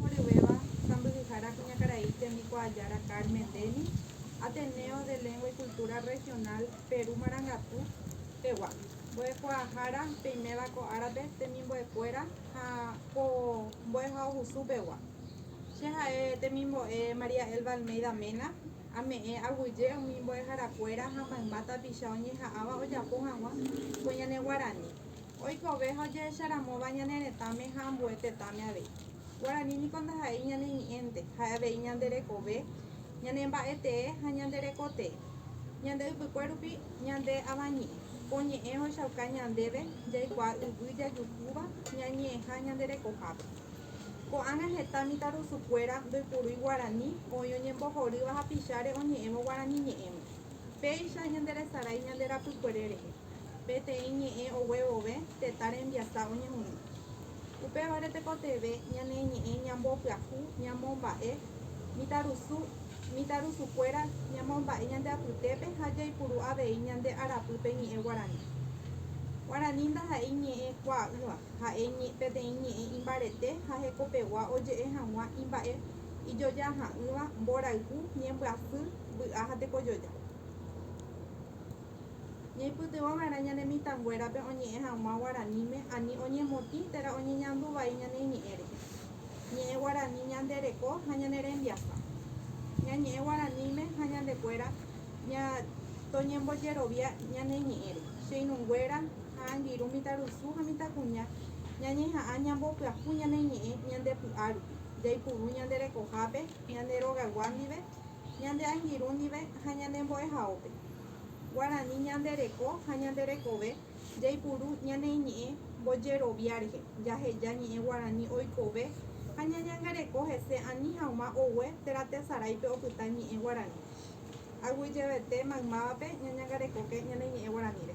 Oryvéva, Sãmbyhyhára kuñakarai tembikuaajára Carmen Denny, Ateneo de Lengua y Cultura Regional Perú Marangatu pegua, mbo'ekuaahára peiméva ko árape temimbo'ekuéra ha ko mbo'ehaohusu pegua. Che ha'e temimbo'e María Elba Almeida Mena, ame'ẽ aguyje umi mbo'eharakuéra ha mayma tapicha oñeha'ãva ojapo hag̃ua ko ñane guarani. Oikove ha ojehecharamóva ñane retãme ha ambue tetãme avei. Guarani niko ndaha'éi ñane ñe'ẽnte, ha'e avei ñande rekove, ñane mba'e tee ha ñande reko tee. Ñande ypykue rupi ñande avañe'ẽ, ko ñe'ẽ ohechauka ñandéve jaikuaa yvy jajukúva ñañe'ẽha ñande rekohápe. Ko'ág̃a heta mitãrusu kuéra ndoipurúi guarani, oĩ oñembohorýva hapicháre oñe'ẽvo guarani ñe'ẽme. Péicha ñanderesarái ñande rapykuere rehe. peteĩ ñe'ẽ ogue vove tetã rembiasa oñemoĩ. Upévare tekotevẽ ñane ñe'ẽ ñambopyahu, ñamomba'e, mitãrusu, mitãrusukuéra, ñamomba'e ñande apytépe ha jaipuru avei ñande arapýpe ñe'ẽ guarani. Guarani ndaha'éi ñe'ẽ kuaa'ỹva, ha'e peteĩ ñe'ẽ imbarete ha hekopegua oje'e hag̃ua imba'e ijoja ha'ỹva, mborayhu, ñembyasy, vy'a ha tekojoja. Ñaipytyvõ va'erã ñane mitãnguérape oñe'ẽ hag̃ua guaraníme ani oñemotĩ térã oñeñandu vai ñane ñe'ẽ rehe. Ñe'ẽ guarani ñande reko ha ñane rembiasa. Ñañe'ẽ guaraníme ha ñande kuéra ña toñembojerovia ñane ñe'ẽ rehe. Che irũnguéra ha angirũ mitãrusu ha mitãkuña, ñañeha'ã ñambopyahu ñane ñe'ẽ ñande py'a rupi, jaipuru ñande rekohápe, ñande rogaygua ndive, Ñande angirũ ndive ha ñane mbo'ehaópe. Guarani ñande reko ha ñande rekove jaipuru ñane ñe'ẽ mbojerovia rehe, jaheja ñe'ẽ guarani oikove ha ñañangareko hese ani hag̃ua ogue térã tesaráipe opyta ñe'ẽ guarani. Aguyjevete maymávape ñañangarekoke ñane ñe'ẽ guaranire.